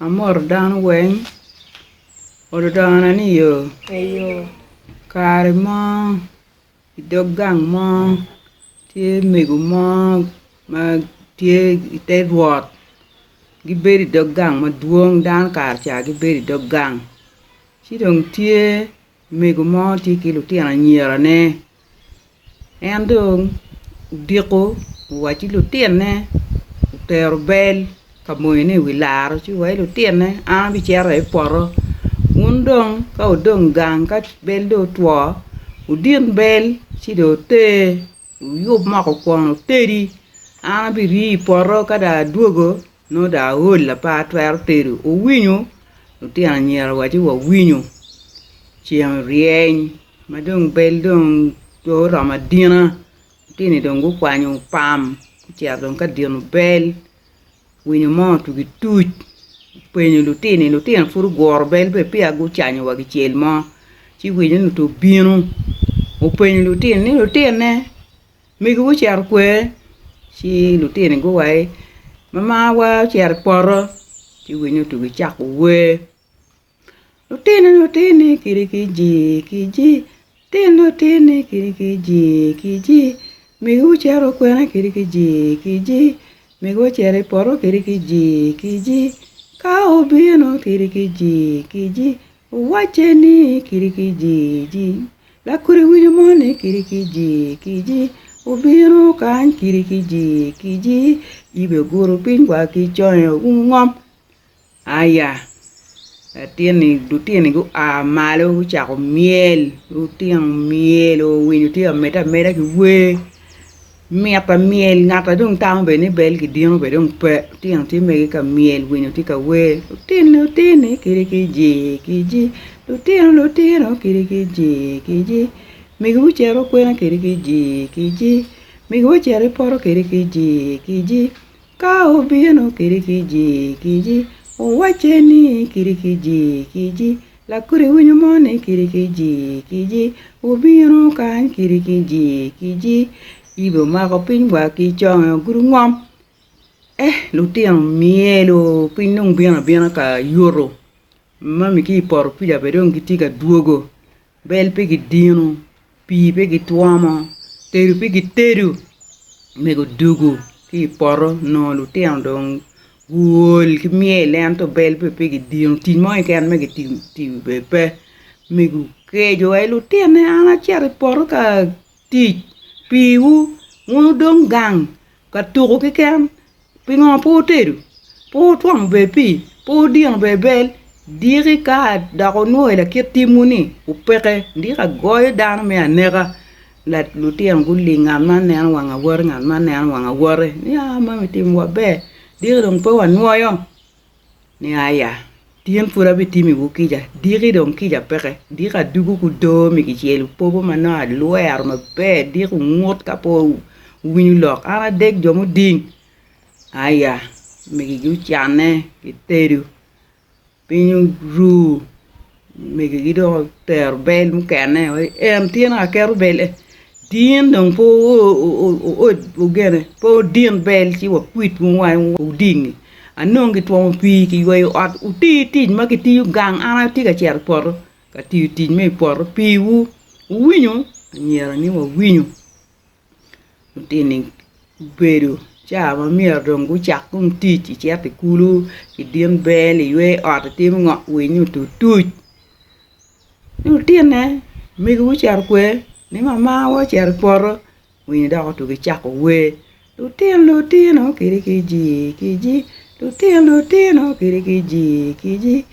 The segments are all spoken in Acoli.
Amoto dano weng oludona ni i yoo kare mo idog gang mo tye mego mo ma tye ite rwot gibedo idog gang madwong dano kare ca gibedo idog gang ci dong tye Omego mo tye ki lutino anyirane. En dong odiko owaco ki lutinone otero bel ka moyone i wi laro ci owaco ki lutinone an abicito aye i poto wun dong ka wudong gang ka bel dong otwo wudin bel ci dong wuter wuyub moko kwon wutedi an abiriyo i poto ka dong adwogo Nongo dong aol lapar twero tedo owinyo lutino anyira waco wa owinyo ceng ryeny ma dong bel dong oromo adina lutini dong gukwanyo pam gucito dong ka dino bel winyo mo otugi tuc openyo lutini lutino pud oguro bel be peya gucanyo wa kicel mo ci winyo ni obino openyo lutini ni lutinone Megiwa ocito kwer, ci lutini guwa ni, 'Mamawa ocito i poto, ci winyo otugo ecako wer, Lutini lutini kidi kiji kiji, lutini lutini kidi kiji kiji, megiwa ocito i kwena kidi kiji kiji, megiwa ocito i poto kidi kiji kiji, ka obino kidi kiji kiji. Owacce ni, Kidi ki jiji. Lakodi winyo mo ni kidi ki jii kiji obino kany kidi ki jii kiji yibe ogudo piny wa ki conge oumo ngom aya latinni lutinni gua malo gucako myel lutino myel oo winyo tye ka mede ameda ki wer Mit pa myel, ngat a dong tamo bedo ni bel ki dino bene dong pe, lutino tye mege ka myel, winyo tye ka wer, Lutini otini kidi ki jii ki jii, lutino lutino kidi ki jii ki jii, Migiwa ocito kwena kidi ki jii ki jii, Migiwa ocito i poto kidi ki jii ki jii. Ka obino kidi ki jigiji, owacce ni kidi ki jigiji, lakodi winyo mo ni kidi ki jigiji, wubino kany kidi ki jigiji, yibe omako piny wa ki conge ogudo ngom, eh lutino myelo piny dong bino abina ka yuto, mami ki i poto pica bene dong gitye ka dwogo. Bel pe gidino, pii pe gitwomo, tedo pe gitedo omego dugu ki i poto nongo lutino dong guol ki myel ento bel be pe gidino tic mo keken ma gitimo tiyo be pe omego keco wa ki lutine an acito i poto ka tic piwu wun wudong gang ka tuku keken Pingo pe wutedo? Pe wutwongo ber pii? Pe wudino ber bel? Diki ka dok wunwoyo lakit timwu-ni opeke, diki agoyo dano me aneka. Lutino guling, ngat man neno wang awote, ngat man neno wang awote, ni, Aa, mami timo maber, diki dong pe wanwoyo. ni Aya, tyen pud abitimiwu kica, diki dong kica peke, diki adugo ki odoo mi kicel, wupopo ma nongo alwero maber, diki wungut ka pe wuwinyo lok, an adek jo muding, Aya, migigi ocanne, gitedo, piny oru. Megigi dong otero bel mukene wa ki en, tyen ka keto bel en, tyen dong pe ogene, pe odin bel ci wakwit wunu wa wudingngi, anongo gitwomo pii kiyweyo ot, wuti tic ma kitiyo gang an atye ka cito i poto ka tiyo tic me i poto piwu, wuwinyo? Anyira ni wawinyo. lutini gubedo ca ma myero dong gucak tung tic icito i kulu, idin bel, iywe ot, itimo ngo, winyo otutuc. Ci lutinne megiwu ocito okwe ni mamawa ocito i poto winyo dok otugo ecako wer, lutin lutino kidi kijii kiji, lutin lutino kidi kijii kiji.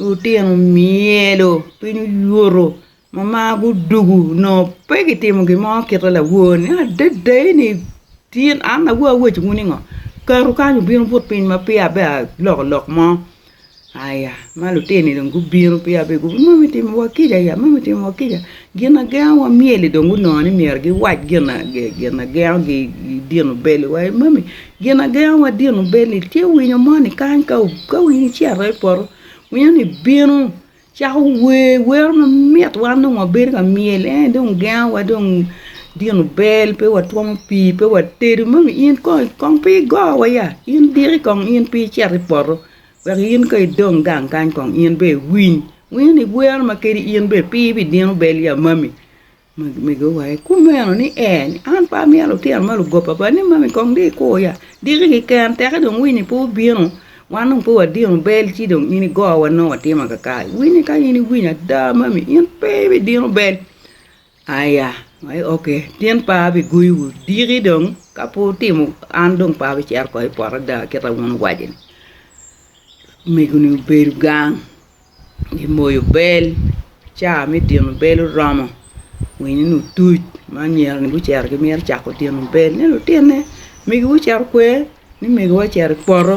Lutino myero piny oyuto ma mar gudugu nongo pe gitimo gin mo kite laworni adada eni tin an awobi awacwu ni ngo kato kany obino but piny ma peya abed aloko lok mo aya ma lutini dong gubino peya abed guwoto mami timo wa kica ya mami timo wa kica Ginagengowa myel-li dong gunongo ni myero giwac ginagengogi i dino bel-li wa. I moni, ginagengowa dino bel-li tye winyo moni kany ka winyo ocito i poto, winyoni bino cako wer wero mamit wan dong wabedo ka myel en aye dong gengowa dong dino bel pe watwomo pii, pe watedo. Moni in kong, kong pe igowa ya? In diki kong in pe icito i poto? Wek in ka idong gang kany kong in bene iwiny, winyo ni bwero ma kadi in bene pe ibidino bel ya mami mego wa ikumeno ni ee ni an pe amyero lutino ma lugoba ba ni mami kong dong ikur ya diki kiken teke dong winy ni pe obino wan dong pe wadino bel ci dong in igo wa nongo watimo kakare winy ni ka in iwiny ada mami in pe ibidino bel Aya, oke, tyen pa abiguyiwu diki dong, ka pe wutimo, an dong pe abicito oko i poto ada kit ma wun wuwaco-ni. Omego-ni obedo gang, gimoyo bel, ca me dino bel oromo, winyo-ni otuc ma anyira-ni gucito gimito cako dino bel ni lutinne, omegiwu ocito okwer ni omegiwa ocito i poto.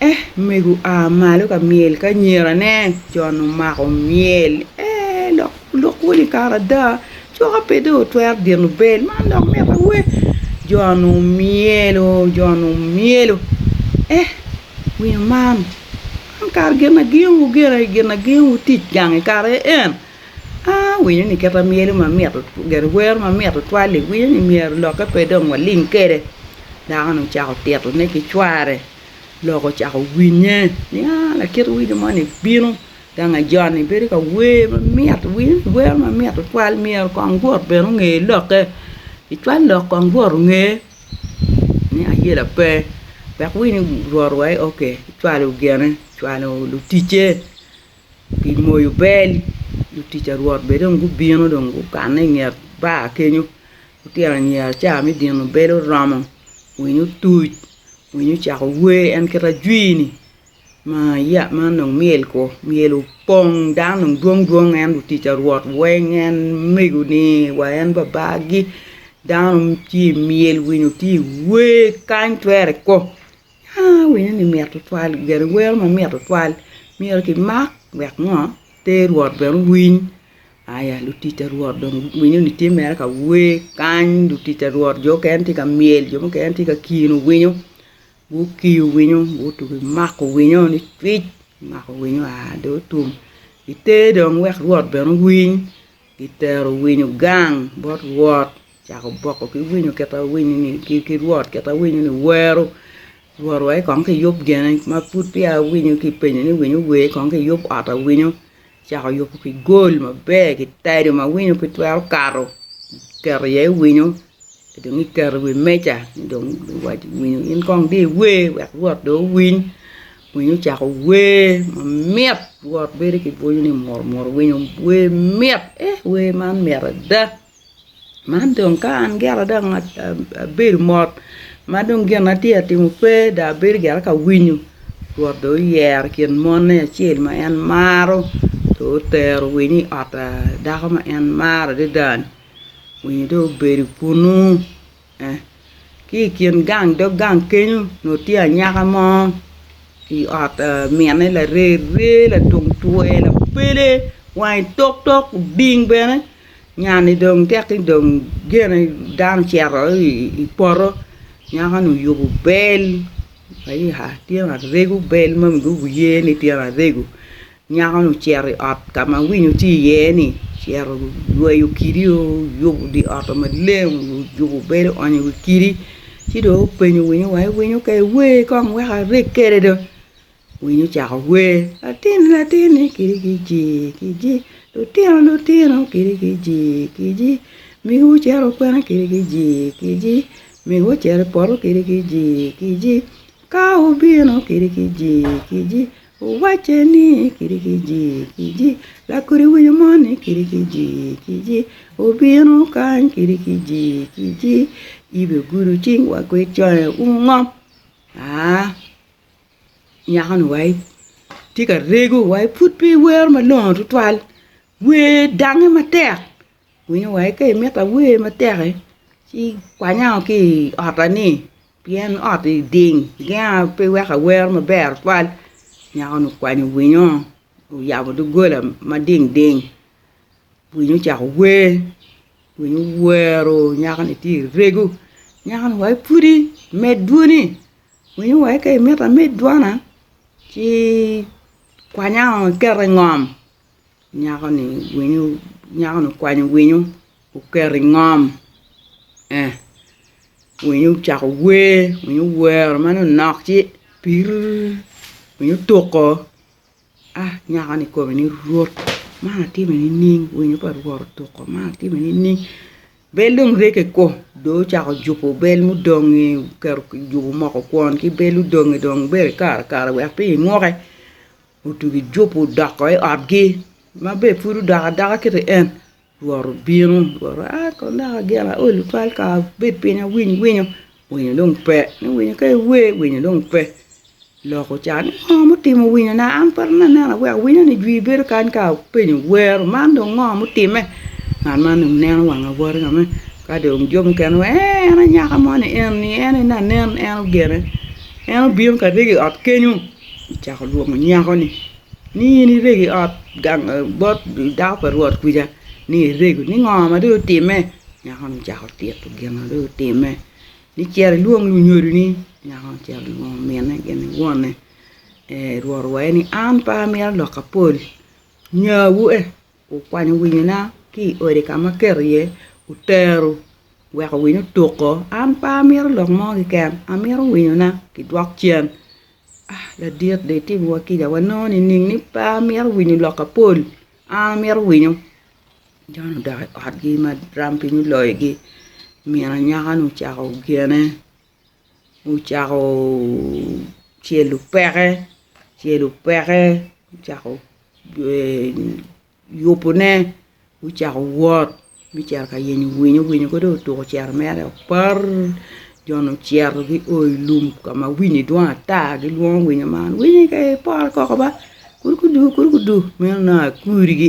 Eh, omego a malo ka myel ki anyirane. Jon omako myel. Eh, lok, lok wun i kare ada, coka pe dong wutwero dino bel, man dok mitte wee? Jon omyelo, Jon omyelo. Eh, winyo man, man kara ginaginwu, ginaginwu tic gang i kare en? Awinyo ni kit amyelo mamit ogero wer mamit tutwal li winyo ni myero lokke pe dong waling kede dako ni ocako tito ne ki cware lok ocako winye ni aa lakit winyo moni bino gang ajoni bedo ka wer mamit winyo ni wer mamit tutwal myero kong but bene onge lokke icwal lok kong but onge ni ayela pe wek winyo ni but wa aye oke icwalo gene icwalo luticce. Pi moyo bel, lutic a Rwot bene dong gubino dong gukanne i nget bar kenyo. Lutino anyira ca me dino bel oromo, winyo otuc, winyo ocako wer en kit ajwi-ni ma ya ma dong myel ko, myel opong dano dong dwong dwong en lutic a Rwot weng en megoni wa en babagi, dano tye i myel, winyo tye i wer kany twere ko. Awinyo ni mit tutwal geni wero ma mit tutwal myero ki mak wek ngo te rwot bene owiny aya lutic pa rwot dong winyo ni tye mere ka wer kany lutic pa rwot jo mukene tye ka myel jo mukene tye ka kino winyo gukiyo winyo gutugo mako winyo ni cwiny mako winyo aa dong otum iter dong wek rwot bene owiny Gitero winyo gang bot Rwot, cako boko ki winyo kita winyoni ki Rwot kita winyoni wero, Rwot wa kong kiyub gene ma pud peya awinyo kipenyo ni winyo wer kong kiyub ot awinyo, cako yubo ki gol maber ki tado ma winyo pe twero kato keto iye winyo dong iketo i wi meja dong iwaco winyo in kong di iwer wek Rwot dong owiny. Winyo ocako wer mamit rwot bedo ki bwonyo ni mur mur winyo wer mit eeh wer man mit ada man dong ka an gire dong abedo mot ma dong gin atye ka timo pe dong abedo gire ka winyo rwot dong oyero kin mone acel ma en maro dong otero winyo i ot dako ma en maro adada-ni winyo dong obedo kunu Ki i kin gang dog gang kenyo onongo tye anyaka mo i ot minne lareree latung twer lapele wange toktok oding bene nya-ni dong tek ni dong gene dano ocito i poto nyako-ni oyubo bel tye ma aregu bel ma wiye wiye ni tyen aregu. Nyako-ni ocito i ot ka ma winyo tye iye-ni, ocito oyweyo kidi, oyubo dye ot-to maleng, oyubo bedo, oonyo i wi kidi ci dong openyo winyo wa ni winyo ka iwer kong wek areg kwede do, winyo ocako wer, latinni latinni kidi kijii kiji, lutino lutino kidi kijii kiji, migo ocito i kwena kidi kijii kiji, migo ocito i poto kidi kijii kiji, kawo obino kidi kijii kiji, Wuwacce ni, Kidi kiji, kiji, lakodi winyo mo ni kidi kiji, kiji, obino kany kidi kiji, kiji, ibegudo cing wa ki iconge umu ngo? aa nyako-ni wa itye ka rego wa ipud pe iwero malongo tutwal, wer dangnge matek winyo wa ka imito awer matek-ki ci ikwanya ki i ot-ta ni. Pien ot i ding genga pe weko awero maber tutwal, nyako-ni okwanyo winyo, oyabo doggola ma ding ding, winyo ocako wer, winyo owero nyako-ni tye ka rego, nyako-ni wa ipwodi med dwoni, winyo wa ka imito amed dwona ci kwanya-o iketa i ngom. Nyako-ni winyo, nyako-ni okwanyo winyo oketo i ngom, ee winyo ocako wer, winyo owero ma ni onok ci pirrrr winyo otuko, ah nyako-ni kome ni rwot man atimi nining winyo pa rwot otuko man atimi nining, bel dong rege ko dong ocako jubo bel mudong-ngi oketo ojubo omoko kwon ki bel odong-ngi dong bene ikaro karo wek pe inguke. Otugi jubo doko i otgi, ma be pud odok adoka kit i en. Rwot obino, rwot owaco, Aa kono dok ageno aol twatwal kara abed piny awiny winyo, winyo dong pe, ni winyo ka iwer, winyo dong pe. Lok oca ni, Ngo mutimo winyona? An pe atye ka neno aweko winyoni jwi bedo kany ka apenyo, wero, man dong ngo mutimme? Ngat man dong neno wang awoti kame, ka dong jo mukene wa, Ee, en anyaka moni eni, en aye anen, en ogene, en obino ka ryegi i ot kenyo. Ocako lwongo nyako-ni ni, In irego i ot gang bot dako pa Rwot kwica ni irego, ni ngo ma dong otimme? Nyako-ni ocako tito gin ma dong otimme, ni Cit ilwong lunyodoni. Nyako-ni ocito olwongo minne gin ki wonne, Rwot owaye ni, An pe amito lok apol, nyawu e. Wukwanyo winyona ki i odi ka ma aketo iye otero wek owiny otuko. An pe amito lok mo keken, amito winyona kidwok cen. Ah, ladit dong itimowa kica wanongo nining ni pe amito winyo lok apol? An amito winyo! Jon odok i otgi ma rampiny oloyogi, min anyaka-nu ocako gene. gucako celo peke celo peke gucako yubone gucako wot me cito ka yenyo winyo, winyo ka dong otuko cero mere opar joni ocito gio i lum ka ma winyi dwong ata gilwongo winyo man, winyi kong iporo koko ba kadi gudu meno nongo akurigi.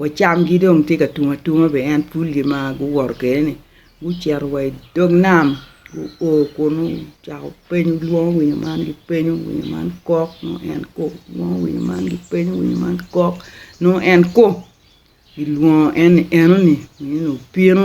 Wa camgi dong tye ka tum atuma bene en pul gi ma guwoto kwede ni gucito wa i dog nam guo kunu gucako penyo lwongo winyo man gi penyo winyo man kok nongo en ko lwongo winyo man gi penyo winyo man kok nongo en ko gilwongo en ni eno ni winyo ni obino.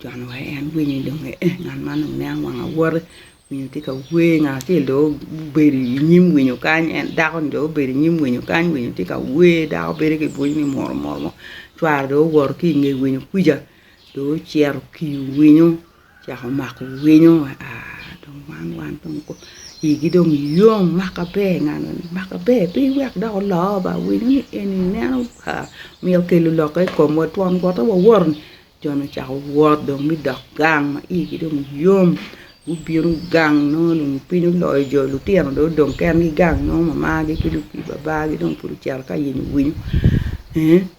Jon wa en winyo ni dong ee ngat man dong nen wang awote, winyo tye ka wer ngat acel dong obedo i nyim winyo kany en dako ni dong obedo i nyim winyo kany winyo tye ka wer dako bedo ki bwonyo ni muru muru mo, cware dong owoto ki nge winyo kwica dong ocito okiyo winyo ocako mako winyo aa dong man wan dong igi dong yom maka ber ngat-ni maka ber piny wek dok oloo ba winyo ni eni neno Ka myel okelo lokke i komwa twon wote wawot-ni, jo-ni ocako wot dong me dok gang ma igi dong yom, gubino gang nongo dong piny oloyo jo, lutino dong odong kengi gang nongo mamagi ki lubii babagi dong pud ocito ka yenyo winyo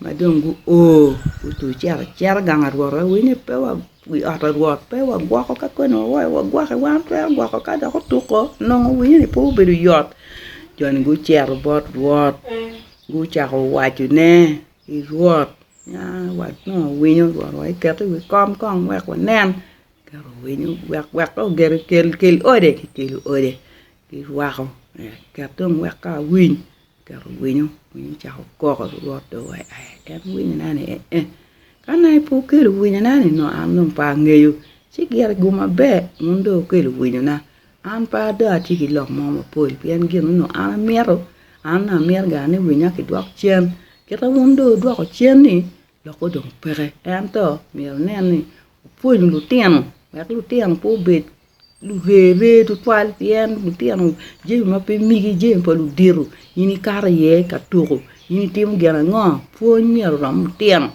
ma dong guo, gucito acita gang arwot-ti, wawinyo ni pe wa Wi ot Rwot pe wagwoko ka koni wawaco wagwoke, wan watwero gwoko ka dok otuko, onongo winyo ni pe obedo yot. Jo-ni gucito bot Rwot, gucako wacone ni, Rwot, ya wanongo winyo, Rwot wa iket i wi kom kong wek wanen. Eketo winyo wek ka ogero kel, kel ode, kikelo ode, kirwako, eket dong wek ka awiny. Oketo winyo, winyo ocako koko rwot dong wa aye en winyo na ni eeh ka nongo i pe okelo winyo na ni nongo an dong pe angeyo ci gire i guma ber wun dong wukelo winyo na an pe ado atye ki lok mo mapol pien gin ni nongo an amito an nongo amito ga ni winya ki dwok cen kita wun dong wudwoko cen ni lok go dong peke ento myero inen ni opwony lutino wek lutino pe obed Lureree tutwal pien lutino jami ma pe migi jami pa ludito in ikato iye ka tuko in itimo gin ango pwony myero orom lutino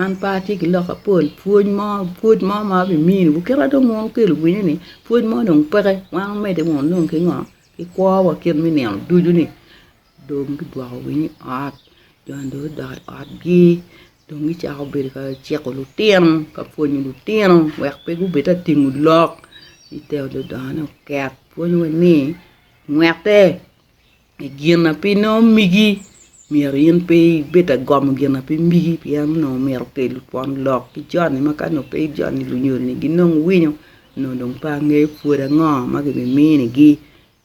an pe atye ki lok mapol pwony mo pwod mo ma abimini wa kit ma dong wun wukelo winyo ni pwony mo dong peke wan wumedde wunu ki ngo ki kwo wa kit me nino ducu ni Dong gidwoko winy i ot, jo ni dong gudok i otgi dong gicako bedo ka ciko lutino ka pwonyo lutino wek pe gubed ka tingo lok gitero ludongo ni oket pwonyo wa ni ngwete i gin ma pe nongo migi myero in pe ibed ka gomo gin ma pe migi pien onongo omyero okelu twon lok ki jo ni ma ka nongo pe jo ni lunyo ni ginong winyo nongo dong pe angeyo pwod ango ma gibimini gi.